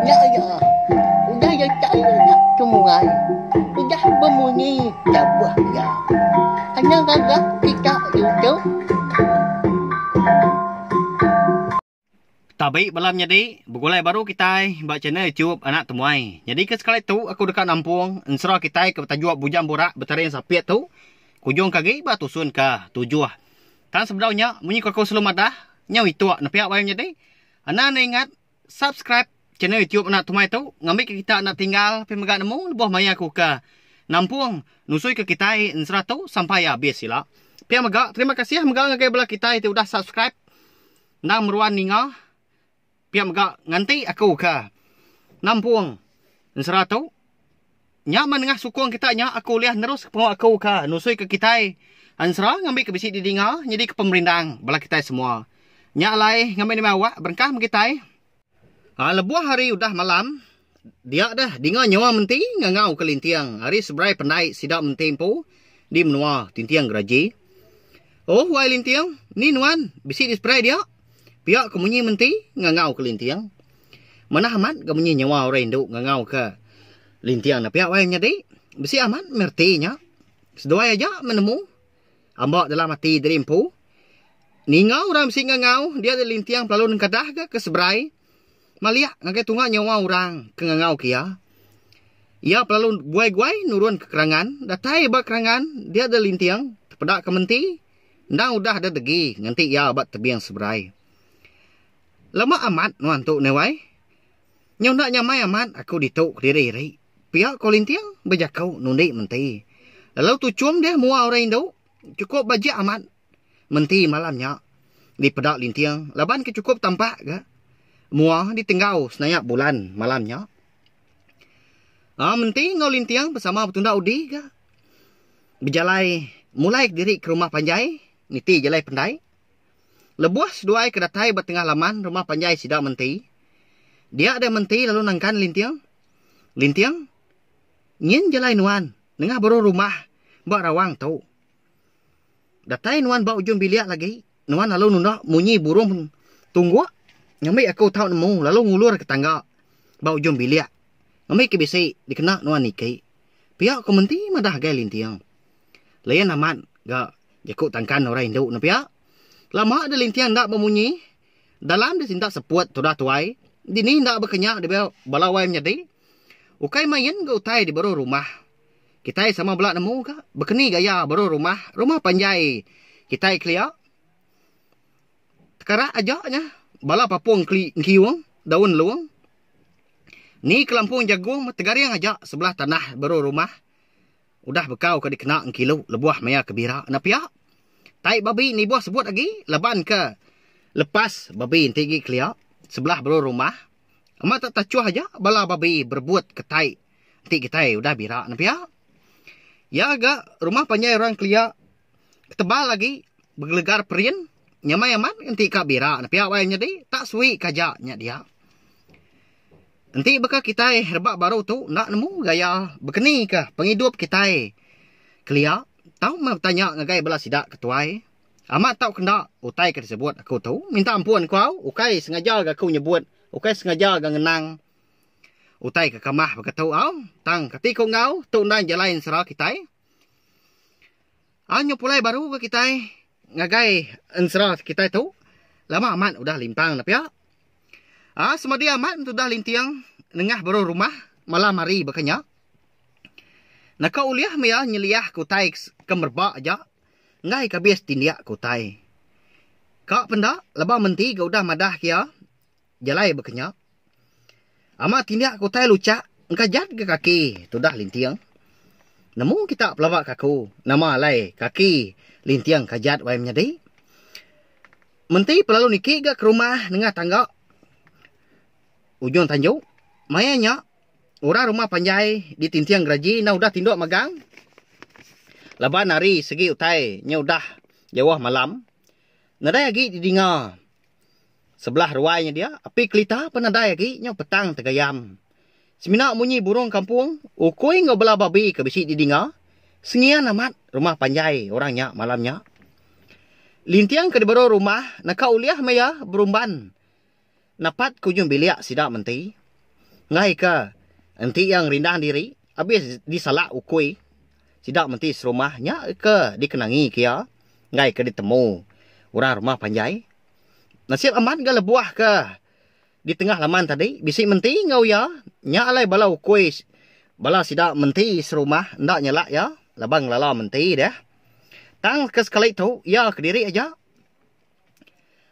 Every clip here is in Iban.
Nya iya, udah iya chai nya chumuai udah bemunyi tabuh iya. Anya ngaga kita YouTube. Tabi bala menyadi, begulai baru kitai ba channel YouTube Anak Temuai. Nyadika sekali tu aku deka nampung ensera kitai ke betajuk Bujang Burak Betaring Sapit tu kujungka agi ba tusun ke tujuh. Tang sebedau nya, munyi ku aku selalu madah, nyau ituk nepiak wayah menyadi. Enda enda ingat subscribe channel YouTube anak tumai tu ngambi ke kita enda tinggal api mega nemu lebuh maya ku ke nampung nusui ke kitai ensera tu sampai abis ila. Pia mega terima kasih mega ngagai bala kitai ti udah subscribe endang meruan ninga pia mega nganti aku ke nampung ensera tu. Nya meh nengah sukung kita nya aku ulih neruska pengawa aku ka nusuika kitai ensera ngambika bisi didinga nyadika pemerindang bala kitai semua. Nya alai ngambi nembiak awak berengkah meh kitai. A Lebuh hari udah malam, dia deh dinga nyawa menti ngangau ke linting ari seberai pendai sida menti empu di menua Tinting Geraji. Oh wai linting, ni nuan bisi di seberai dia? pia ke munyi menti ngangau ke linting. Manah amat ga munyi nyawa orang indu ngangau ka linting ne pia wai nyadi. Bisi amat meh reti nya. Seduai aja meh nemu amba dalam ati diri empu. Ninga orang bisi ngangau dia nya linting pelalu nengkadah ga ke seberai maliak ngagai tunga nyawa orang ke ngangau ke iya. Iya pelalu guai-guai nurun ka kerangan datai ba kerangan dia nya linting tepeda ke menti endang udah deh degi nganti iya ba tebing seberai. Lama amat nuan tu Newai. Nyau enda nyamai amat aku ditu kediri ri. Pia ko Linting bejako nundi menti. Lalu tu Chum deh mua orang indu. Chukup bajik amat menti malam nya dipeda Linting laban ke chukup tampak ga mua ditenggau senayak bulan malam nya. Aa menti enggau Linting besama betunda udi ga bejalai mulai kediri ke rumah panjai niti jalai pendai. Lebuh seduai ke datai ba tengah laman rumah panjai sida menti, dia deh menti lalu nangkan Linting, Linting, nyin jalai nuan nengah baruh rumah ba rawang tu. Datai nuan ba ujung bilik lagi, nuan lalu nunda munyi burung tungguk ngambi aku tau nemu lalu ngulur ke tangga ba ujung bilik ngambi ke bisi dikena nuan niki. Pia ku menti madah agai Linting. Layan amat ga. Jaku tangkan orang indu ne pia. Lama deh linting enda bemunyi. Dalam deh sintak seput tudah tuai. Dini enda bekenya debei bala wai menyadi. Ukai main enggau utai di baruh rumah. Kitai sama bela nemu ga bekeni gaya baruh rumah, rumah panjai kitai kelia. Tekarak aja nya bala papung keli engkiung daun long. Ni kelampung jagung meh tegaring aja sebelah tanah baruh rumah. Udah bekau ke dikena engkilu lebuh maya ke bira enda pia. Tai babi nibuh sebut agi laban ke lepas babi enti agi kelia sebelah baru rumah amat tak tachuh aja bala babi berebut ke tai enti kitai udah bira enda pia. Iya ga rumah panjai orang kelia. Ketebal agi begelegar perin nyamai amat enti ka bira ne pia wai nyadi tak suwi ke aja nya dia. Enti baka kitai rebak baru tu enda nemu gaya bekeni ke pengidup kitai kelia tau meh betanya ngagai bala sida ke tuai amat tau ke enda utai ke disebut aku tu minta ampun ku au ukai sengaja ga ku nyebut ukai sengaja ga ngenang utai ke kamah baka tu au tang kati ku enggau tu enda jalai ensera kitai. Ai nyau pulai baru ga kitai ngagai ensera kitai tu lama amat udah limpang ne pia ai semadi amat udah linting nengah baruh rumah malam hari baka nya naka ulih maya nyeliah ke utai ke merebak aja enggai ke abis tindik ke utai ka penda laban menti ga udah madah ke iya Jalai bekenyap. Amat tindak ke utai luchak engka jat ke kaki tudah linting. Nemu kita pelaba kaku nama alai kaki linting ka jat wai menyadi. Menti pelalu niki ga ke rumah nengah tangga ujung tanju. Maya nya orang rumah panjai di tinting geraji enda udah tinduk magang laban hari segi utai nya udah jauh malam. Nadai agi didinga. Sebelah ruai nya dia, api kelita pan nadai agi nyau petang tegayam. Semina munyi burung kampung, ukui enggau bela babi ke bisi didinga, sengian amat rumah panjai orang nya malam nya. Linting ke diberu rumah naka ulih meh iya berumban napat ke ujung bilik sida menti. Enggaika enti iya ngerindang diri abis disalak ukui, sida menti serumah nya ke dikenangi ke iya enggaika ditemu orang rumah panjai. Nasib amat ga lebuh ke di tengah laman tadi bisi menti enggau iya. Nya alai bala ukui bala sida menti serumah enda nyelak iya laban ngelala menti deh. Tang ke sekali tu iya kediri aja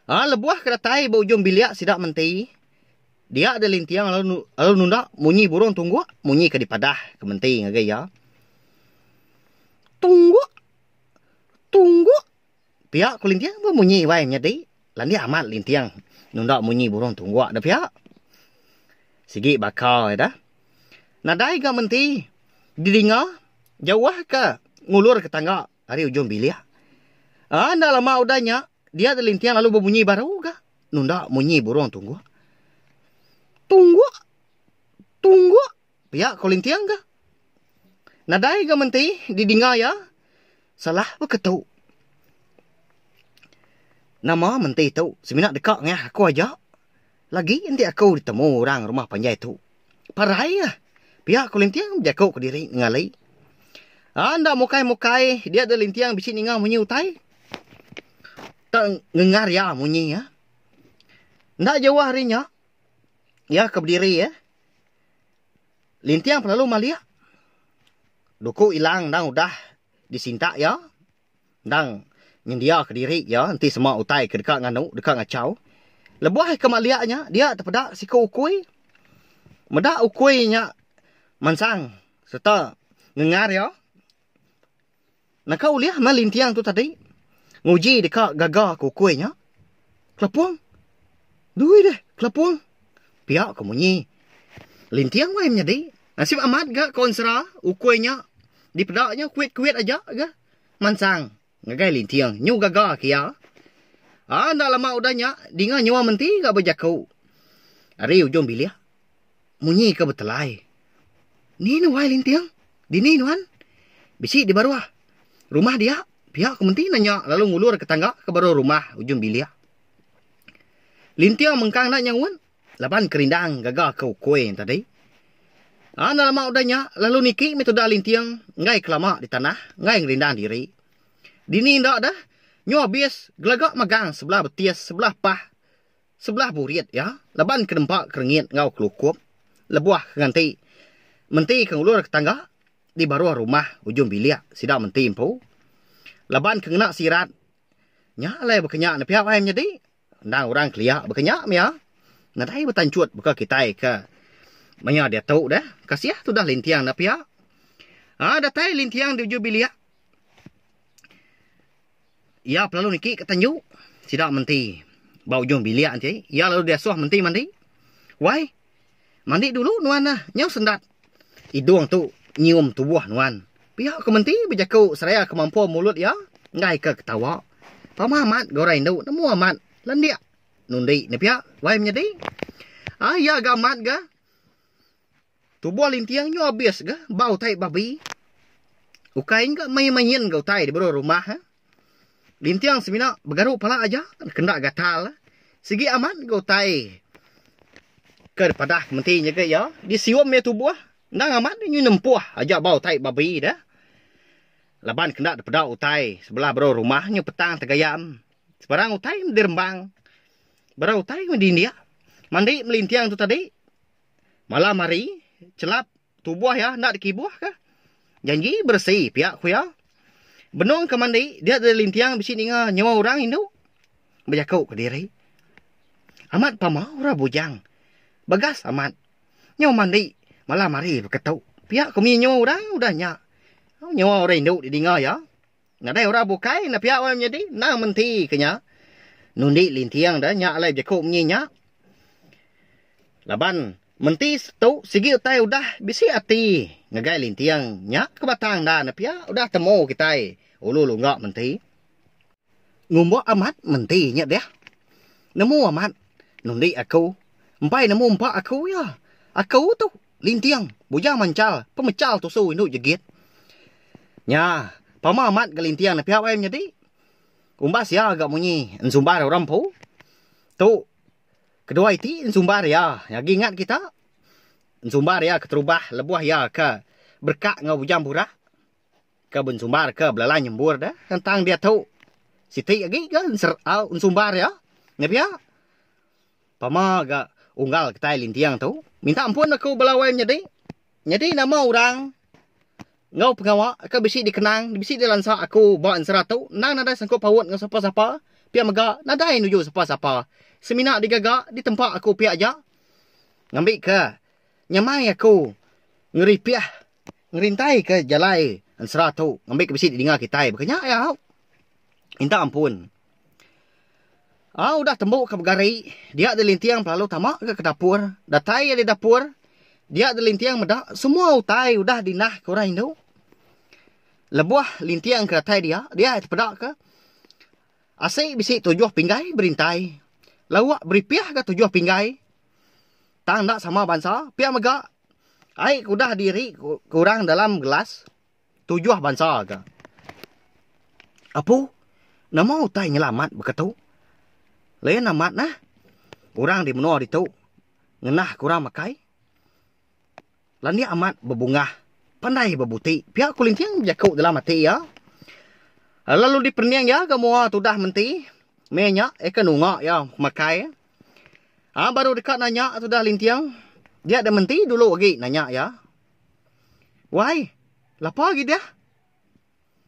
uhh lebuh ke datai ba ujung bilik sida menti dia deh linting lalu nunda munyi burung tungguk munyi ke dipadah ke menti ngagai iya. Tungguk! Tungguk! Pia Kulinting pun munyi iwai nyadi landik amat linting nunda munyi burung tungguk da pia. Sigi baka ida nadai ga menti didinga jauh ka ngulur ka tangga ari ujung bilik. Aa enda lama udah nya dia ti linting lalu bemunyi baru ga nunda munyi burung tungguk. Tungguk! Tungguk! Pia ko Linting ga. Nadai ga menti di dinga iya. Salah ba ke tu. Nama menti tu semina deka ngah aku aja. Lagi enti aku di temu orang rumah panjai tu. Parai iya. Pia ko Linting bejaku ke diri nenggali. Aa enda mukai mukai dia deh Linting bisi ninga munyi utai. Tau ngengar iya munyi iya. Enda jauh ari nya iya ke bediri iya. Linting pelalu malik duku ilang endang udah disintak iya endang nyendia ka diri iya enti sema utai ke deka nganu deka ngachau lebuh ika malik nya dia te peda siku ukui meda ukui nya mansang serta ngengar iya. Naka ulih enda linting tu tadi nguji deka gaga ke ukui nya. Kelapung. Dui deh kelapung. Pia ke munyi. Linting wai menyadi. Nasib amat ga konsera ukui nya dipeda nya kuit-kuit aja ga mansang ngagai linting nyu gaga ke iya. Enda lama udah nya dinga nyua menti ga bejaku ari ujung bilik. Munyi ke betelai. Ni nuai linting? Dini nuan? Bisi di baruh. Rumah dia? Pia ku menti nanya lalu ngulur ke tangga ke baruh rumah ujung bilik. Linting mengkang enda nyaut laban kerindang gaga ke ukui nya tadi. A enda lama udah nya lalu niki meh tudah linting enggai kelama di tanah enggai ngerindang diri. Dini enda deh. Nyu abis gelaga magang sebelah betis sebelah pah. Sebelah burit iya laban ke nempa kerengit enggau kelukup lebuh ke nganti menti ke ngulur ke tangga di baruh rumah ujung bilik sida menti empu laban ke ngena sirat nya alai baka nya nepia ai menyadi endang orang kelia baka nya mia nadai betanchut baka kitai ke maya diatu deh kasih tudah linting enda pia um datai linting di ujung bilik. Iya pelalu niki ke tenju sida menti ba ujung bilik enti iya lalu diasuh menti mandi. Wai mandi dulu nuan neh nyau sendat idung tu nyium tubuh nuan. Pia ke menti bejaku seraya ke mampu mulut iya enggai ke ketawa. Pama amat ga orang indu nemu amat lendik nundi ne pia wai menyadi. Ai iya ga amat ga. Tubuh linting nyu abis ga ba utai babi. Ukai nya ga main-main ga utai di bero rumah ha. Linting semina begaru pala aja kenda gatal. Sigi amat ga utai ke dipadah ke menti nyegek iya disium iya tubuh endang amat nyu nempuh aja ba utai babi deh. Laban kenda dipeda utai sebelah bero rumah nyu petang tegaya em. Sebarang utai medi rembang. Barang utai medi indik. Mandi melinting tu tadi. Malam hari, chelap tubuh iya enda dikibuhka. Janji beresi piak ku iya. Benung ke mandi, dia deda linting bisi ninga nyawa orang indu bejaku kediri. Amat pama orang bujang. Bagas amat nyau mandi malam hari beketu. Piak ku munyi nyawa orang udah nya. Nyawa orang indu didinga iya. Nadai orang bukai enda pia meh menyadi endang menti ke nya nundi linting deh nya alai bejaku munyi nya laban menti setu sigi utai udah bisi ati ngagai linting nya ke batang enda ne pia udah temu kitai ulu lungga menti ngumba amat menti nya deh nemu amat nundi aku empai nemu empa aku iya aku tu. Linting, bujang manchal, pemechal tusu indu jegit. Nya, pama amat ga Linting nepiak ai menyadi. Umbas iya ga munyi ensumbar orang empu. Tu kedua iti ensumbar iya nyagi ingat kita. Ensumbar iya keterubah lebuh iya ke berekak enggau bujang burak ke bensumbar ke belalai nyembur deh. Tentang diatu, siti agi ga ensumbar iya nepiak. Pama ga unggal kitai linting tu. Minta ampun aku bala wai menyadi. Nyadi nama orang enggau pengawa ke bisi dikenang bisi dilansa aku ba ensera tu endang nadai sangkut paut enggau sapa-sapa pia mega nadai nuju sapa-sapa. Semina digaga ditempa aku pia aja ngambika nyamai aku ngeripih ngerintaika jalai ensera tu ngambika bisi didinga kitai. Baka nya ai au. Minta ampun. Au udah tembu ke pegari, dia dilinting pelalu tama ga ke dapur. Datai ia di dapur, dia dilinting meda semua utai udah di nah ke orang indu. Lebuh linting ke datai dia, dia ia tepeda ke asi bisi tujuh pinggai berintai. Lawa beripih ga tujuh pinggai. Tang enda sama bansa, pia mega ai ke udah diri ke orang dalam gelas. tujuh bansa ga. Apu, nama utai nyela amat baka tu? Lain amat nah, orang di menua ditu ngenah ke orang makai. Landik amat bebungah, pandai bebuti pia ku Linting bejaku dalam ati iya. Lalu diperening iya ga mua tudah menti meh nya iya ke nunga iya makai. Aa baru deka nanya tudah Linting dia da menti dulu agi nanya iya. Wai, lapa agi deh?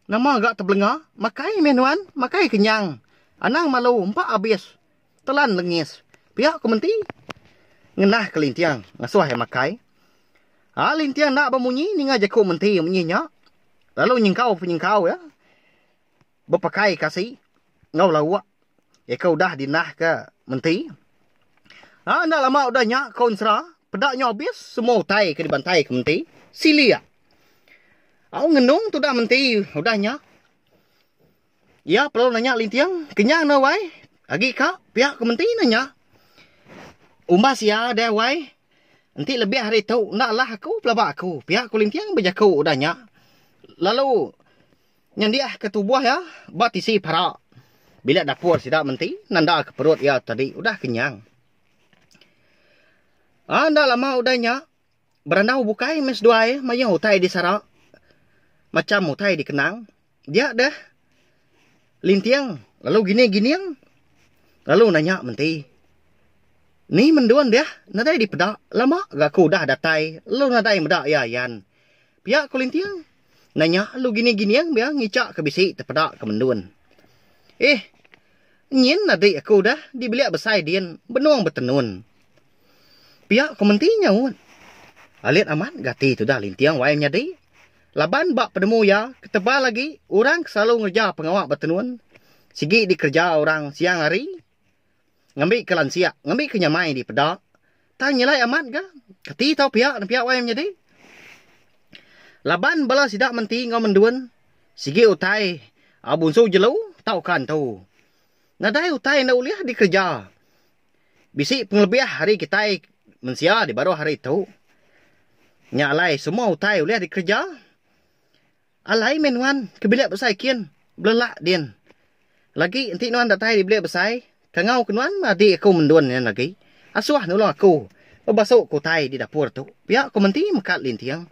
Nama ga tebelenga? Makai meh nuan, makai kenyang. Anang malu empa abis telan lengis. Pia ku menti ngenah ke Linting ngasuh iya makai. Ai Linting enda bemunyi ninga jaku menti munyi nya lalu nyengkau penyengkau iya. bepekai kasi enggau lauk iya ke udah dinahka menti. Nya enda lama udah nya konsra peda nyau abis semua utai ke dibantai ke menti silik. Au ngenung tudah menti udah nya iya perlu nanya Linting kenyang enda wai agi ka piak ke menti nanya umbas iya deh wai enti lebih ari tu enda lah aku pelaba aku piak ku Linting bejaku udah nya lalu Nyendiahka tubuh iya ba tisi para bilik dapur sida menti nandaka perut iya tadi udah kenyang. A Enda lama udah nya, berandau bukai meh seduai mayuh utai disara, macham utai dikenang. Dia deh Linting lalu Gini Gining lalu nanya menti, Ni mendun deh nadai dipeda, lama ga aku udah datai lalu nadai meda iya yan. Pia ku Linting. Endang nya alu gini gining bia ngichak ke bisi tepeda ke mendun. Ih, nyin adik aku udah dibilik besai din benung betenun. Pia ku menti nyaut. Alit amat gati tudah linting wai menyadi laban ba penemu iya ketebal agi orang ke selalu ngereja pengawa betenun sigi dikereja orang siang hari. Ngambika lansia, ngambika nyamai di peda. Tang nyelai amat ga, kati tau pia nempiak wai menyadi. Laban bala sida menti enggau mendun, sigi utai a bunsu jelu tauka entu. Nadai utai enda ulih dikereja. Bisi pengelebih ari kitai mensia di baruh hari tu. Nya alai semua utai ulih dikereja. Alai meh nuan ke bilik besai kin belelak din. Lagi enti nuan datai di bilik besai, kangau ke nuan meh adik aku mendun nya agi. Asuh nulung aku bebasu ke utai di dapur tu, pia aku menti mekat linting.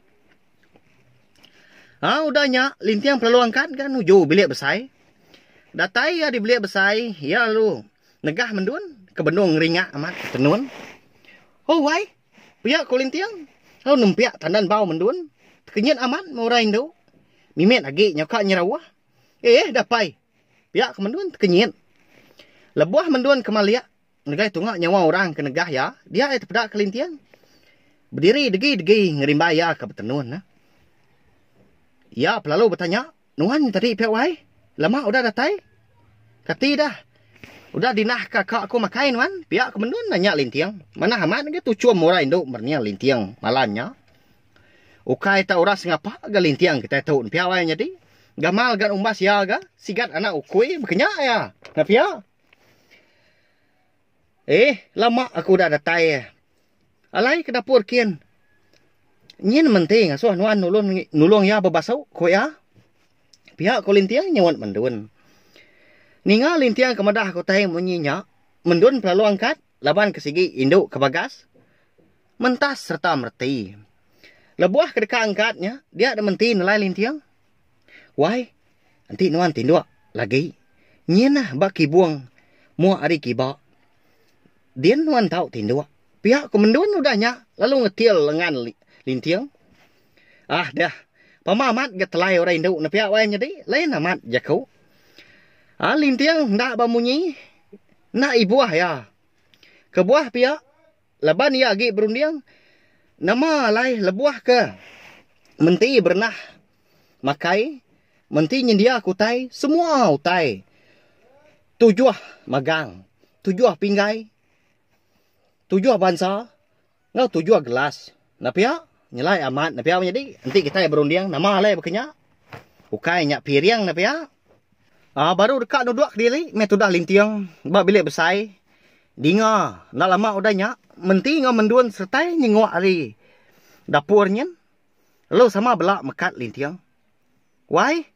Au udah nya, linting pelalu angkat ga nuju bilik besai. Datai iya di bilik besai, iya lalu negah mendun ke benung ngeringa amat tenun. Owai! Pia ku Linting, lalu nempiak tandan bau mendun. Tekenyit amat meh orang indu. Mimit agi nyau ka nyerauh. Eh eh dah pai. Pia ke mendun tekenyit. Lebuh mendun ke malik, ngeregai tunga nyawa orang ke negah iya, dia iya tepeda ke Linting. Bediri degi-degi ngerimbai iya ka betenun. Iya pelalu betanya. Nuan tadi pia wai. Lama udah datai. Kati dah. Udah dinah ka ka aku makai nuan. Pia ke mendun dah nya linting. Manah amat ga tuchum orang indu mernia linting malan nya. Ukai ta orang sengapa ga linting kitai tu pia wai nyadi. Gamal ga umbas iya ga sigat anak ukui bekenya iya. Nya pia. Eh, lama aku udah datai. Alai ke dapur kin. Nyin menti ngasuh nuan nulung nulung iya bebasu, ku iya. Pia ko Linting nyaunt Mendun. Ninga Linting ke madah ke utai munyi nya, Mendun pelalu angkat laban ke sigi indu ke bagas mentas sereta mereti. Lebuh ke deka angkat nya, dia deh menti nelai Linting. Wai, enti nuan tinduk lagi nyin nah ba kibung muk ari kiba. Din nuan tau tinduk. Pia ku Mendun udah nya lalu ngetil lengan Linting. Ah deh, pama amat ga telai orang indu ne pia wai nyadi, lain amat jaku. Ah Linting enda ba munyi, enda ibuh iya. Kebuah pia. laban iya agi berunding nama alai lebuh ke menti berenah makai menti nyendia ke utai semua utai tujuh magang tujuh pinggai tujuh bansa enggau tujuh gelas. Nepia, nyelai amat nepia menyadi. Enti kitai berunding nama alai baka nya, ukai nya piring nepia. Aa baru deka nuduk kediri meh tudah linting ba bilik besai. Dinga enda lama udah nya, menti enggau mendun seretai nyenguk ari dapur nyin lalu sama bela mekat linting. Wai,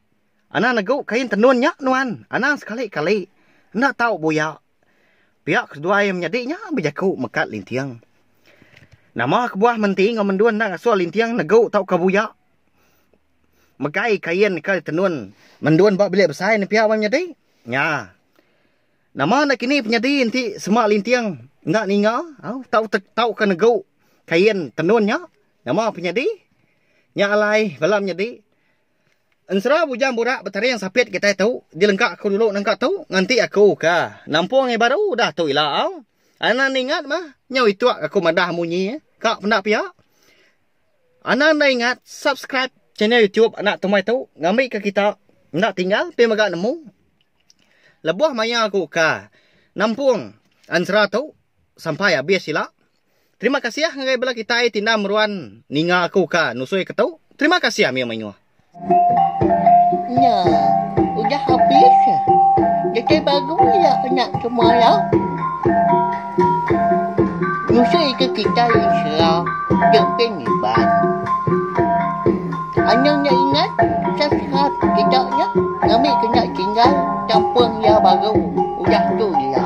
anang negu kain tenun nya nuan. Anang sekali-kali enda tau buyak. Pia keseduai menyadi nya bejaku mekat linting. Nama kebuah menti enggau mendun enda ngasuh linting negu tauka buya. Megai kain ke tenun mendun ba bilik besai ne pia meh nyadi. Nya. Nama enda kini penyadi enti sema linting enda ninga au tau tauka negu kain tenun nya nama penyadi. Nya alai bala menyadi. Ensera bujang burak betaring sapit kitai tu dilengka aku dulu nengka tu nganti aku ka nampung ngai baru udah tu ila au anan ingat mah nyau ituk aku madah munyi ka penda pia anan enda ingat subscribe channel YouTube anak tumai tu ngambi ka kita enda tinggal ti mega nemu lebuh maya aku ka nampung ensera tu sampai abis ila. Terima kasiah ngagai bela kitai ti enda meruan ninga aku ka nusui ke tu. Terima kasiah mih menguh. Nya udah habis kitai baru ya nya semaya nusui ke kitai ensera Jempin Iban. Anang nya ingat sasat kita nya ngambi ke nya tinggal kampung iya baru udah tu iya.